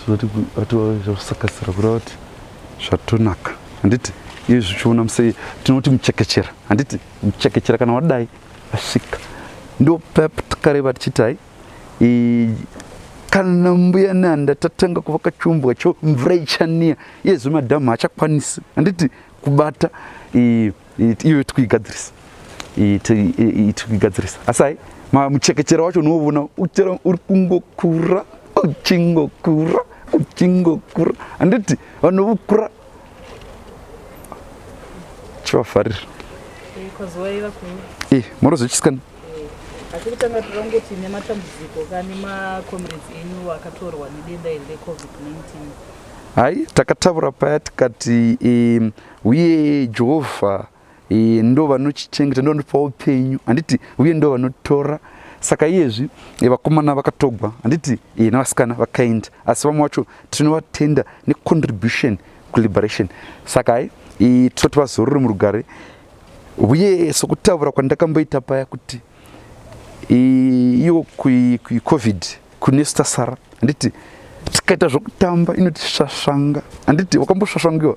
zvinoti kusakasira kureva kuti zvatonaka handiti iye zvichiona musei tinoti muchekechera handiti muchekechera kana wadai asvika ndo pep takareva tichiti hai kana mbuya nanda tatanga kuvaka chiumbwa cho mvura ichaniya iye zvemadhamhu hachakwanisi handiti kubata iyo tikuigadzirisa tikuigadzirisa asi hai muchekechero wacho unoona uchera uri kungokura uchingokura uchingokura handiti vanokura chivafarira eh, morozochisikana asi kutanga tora kungoti nematambudziko kani macomrades enyu akatorwa nedenda iri recovid-19 hai takataura paya tikati um, uye Jehovha e, ndo vanochichengeta ndo vanotipa upenyu handiti uye ndo vanotora saka iyezvi e, vakomana vakatogwa handiti e, navasikana vakaenda asi vamwe vacho tinovatenda necontribution kuliberation saka hai e, toti vazorore murugare uye sokutaura kwandakamboita paya kuti iyo kucovid kunesta sara handiti tikaita zvokutamba inotisvasvanga handiti wakambosvasvangiwa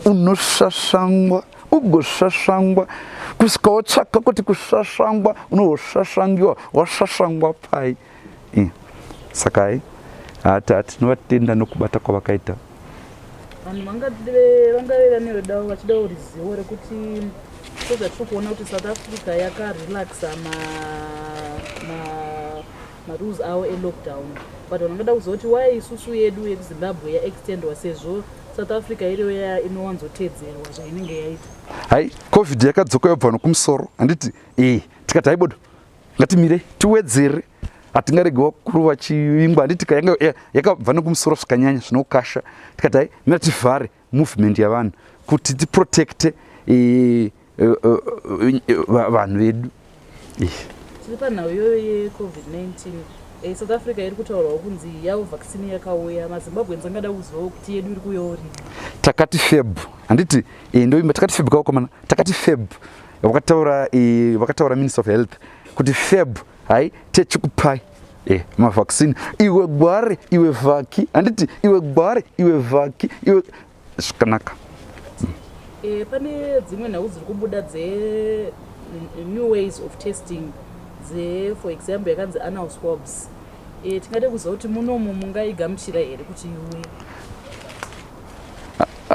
unosvasvangwa ugosvasvangwa kusvika wotsvaka kuti kusvasvangwa unohosvasvangiwa wasvasvangwa pai eh, saka hai hati hati tinovatenda nokubata kwavakaita vanhu vangave vane rudawo vachida ruzivo rekuti sezvatiri kuona kuti south africa yakarelaxa marules awo elockdown but vanhu vanoda kuzoti why isusu yedu yekuzimbabwe yaextendwa sezvo south africa iriyo ya inowanzotedzerwa zvainenge yaita hai covid yakadzoka yobva nokumusoro handiti e tikati haibodo ngatimirei tiwedzere hatingaregi vakuru vachivingwa handiti yakabva nokumusoro zvikanyanya zvinokasha tikati hai mira tivhare movement yavanhu kuti tiprotecte e, e, e, vanhu vedu tiri panhau iyoyo yecovid-19 e, south africa iri kutaurawo kunzi yavo vaccine yakauya mazimbabweans angada kuzivawo kuti yedu iri kuuyawo rini takati feb handiti e, ndoimba takati feb kaokomana takati feb vakataura e, vakataura minister of health kuti feb hai techikupai Eh, mavaccine iwe gware iwe vhaki handiti iwe gware iwe vhaki iwe zvakanaka e, pane dzimwe nhau dziri kubuda dze mm, new ways of testing dze for example yakanzi anal swabs e, tingade kuziva kuti munomu mungaigamuchira here kuti iwe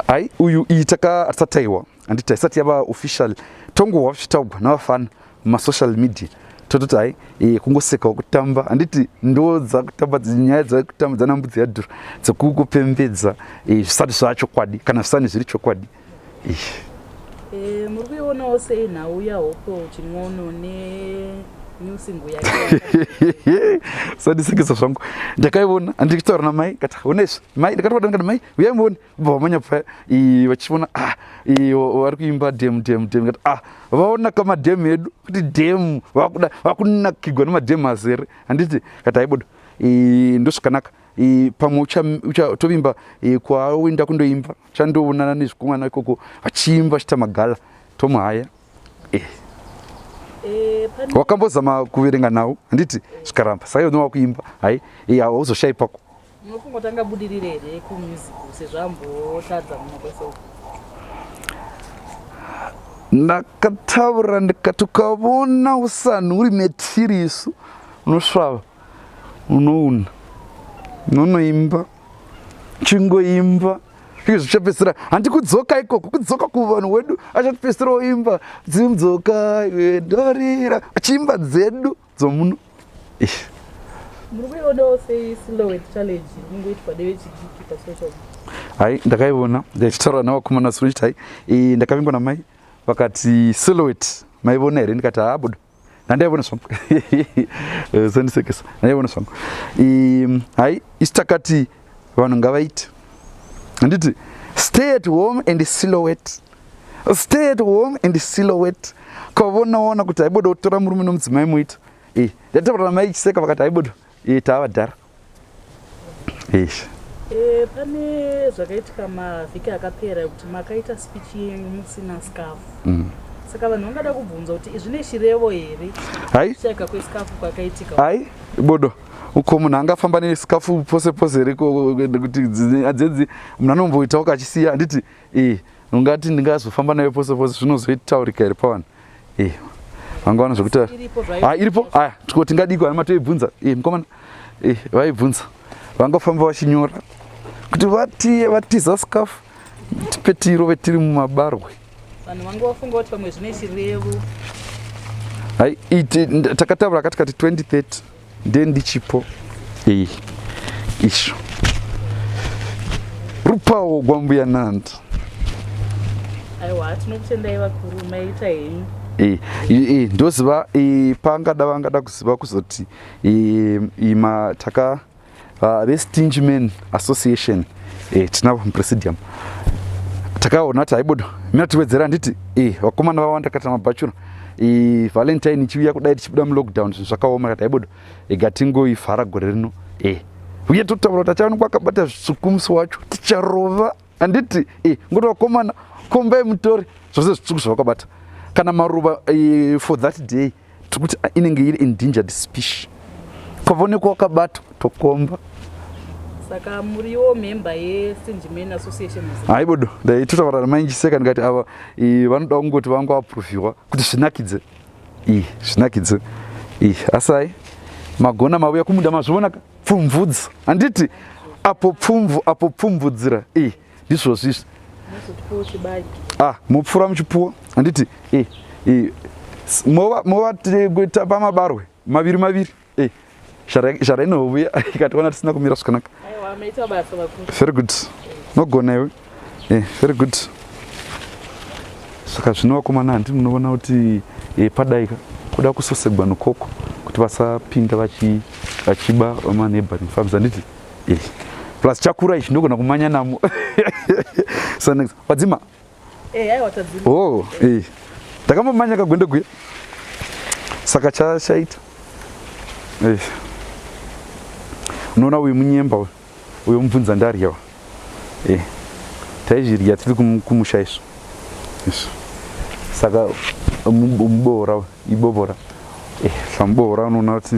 hai uyu iyi takatisataiwa handiti haisati yava official tongohwa zvichitaugwa navafana mumasocial media tototi hai e, kungosekawo kutamba handiti ndo dzakutamba nyaya dzakutamba dzana mbudzi yadhura dzekukupembedza e, zvisati zvava chokwadi kana zvisani zviri chokwadi e. e, muri kuionawo sei nhau yahoko chimwono ne sandisekesa zvangu ndakaiona andikitaura namai kati unezvi mai ndikatovatanga mai uyai muone kubva vamanya paya vachiona ah, vari kuimba dem dem dem kati ah vaonaka madem edu kuti dem vakuda vakunakigwa nemadem azere handiti kati aibodo ndozvakanaka pamwe uchatovimba kwaoenda kundoimba chandoonana nezvikomana ikoko vachiimba vachita magala tomuhaya eh. Eh, wakambozama kuverenga nhau handiti zvikaramba saiyo nowakuimba hai hauzoshaipa ko Muri kungotanga budirire here kumusic sezvo ambotadza muno kwese uku? Ndakataura ndikati ukavona usanhu uri metiri isu unosvava unouna unonoimba chingoimba ii zvichapedzisira handi kudzoka ikoko kudzoka kuvanhu wedu achatipedzisira oimba dzimdzoka wedorira achiimba dzedu dzomuno ish muri kuionawo sei silhouette challenge iri kungoitwa nevechidiki pasocial hai ndakaiona ndichitaura navakomana suri chiti hai eh, ndakavingwa namai vakati silhouette maivona here ndikati haabuda ndandaivona zvangu Eh, zandisekesa ndandaivona zvangu Ehm, hai isi takati vanhu ngavaite handiti stay at home and silhouette stay at home and silhouette kwavonaona kuti haiboda kutora murume nomudzimai muita eh, ndataura namai chiseka vakati haiboda eh, taavadhara ish eh, pane zvakaitika mavhiki akapera ekuti makaita speech yenyu musina scafu mm. saka vanhu vangada kubvunza kuti izvine chirevo here haika kwescafu kwakaitika hai bodo uko munhu angafamba nesikafu pose pose here kuti adzedzi munhu anomboitawo kachisiya handiti e ungati ndingazofamba nayo pose pose zvinozoitaurika here pavanhu e vangawana zvekutaura ha iripo aya tiko tingadiko ana matoibvunza e mukomana e vaibvunza vangafamba vachinyora kuti vatiye vatiza sikafu petiro vetiri mumabarwe vanhu vanga vafunga kuti pamwe zvine chirevo hai takataura katikati 2030 Ndiye ndichipo iyi isho rupawo gwambuya nandi aiwa tinokutendai vakuru maita henyu Eh, eh, eh, ndoziva eh, pangada vangada kuziva kuzoti eh, eh, ma- taka uh, vestinge men association eh, tinavo mupresidium takaona kuti haibodo mina tiwedzera handiti eh, vakomana vawanda kata mabhachura eh, valentine ichiuya kudai tichibuda mulockdown zvinhu zvakaoma kati haibodo ega eh, tingoivhara gore rino eh, uye totaura kuti achaonekwa akabata zvitsvuku musi wacho ticharova handiti eh, ngoti vakomana kombai mutori zvose zvitsvuku zvavakabata kana maruva eh, for that day tiri kuti ah, inenge iri endangered species ukavaonekwa wakabatwa tokomba saka muriwo member yesinjimen association haibodo ndaitotaura namainjiseka ndikati ava vanoda kungoti vanga vaproviwa kuti zvinakidze i zvinakidze i asai magona mavuya kumunda mazvionaka pfumvudza handiti apo pfumvu apo pfumvudzira i this was this ah mupfura muchipfuwo handiti eh, eh, movakuita pamabarwe maviri maviri eh, shara inovuya ikatiwana tisina kumira zvakanaka very good nogona iwe eh, very good saka zvino vakomana handi munoona kuti eh, padaika kuda kusosegwa nokoko kuti vasapinda vachiba vamaneighboring farms handiti plus chakura ichi ndogona kumanya namo so next wadzima eh, oh eh. ndakambomanya kagwendo gwe saka chachaita eh. unoona uyu munyemba uyu uyo mubvunza ndaryawa eh. taizvirya tiri kumusha isu saka muboora uyu Ibobora. Eh, samubora unoona kuti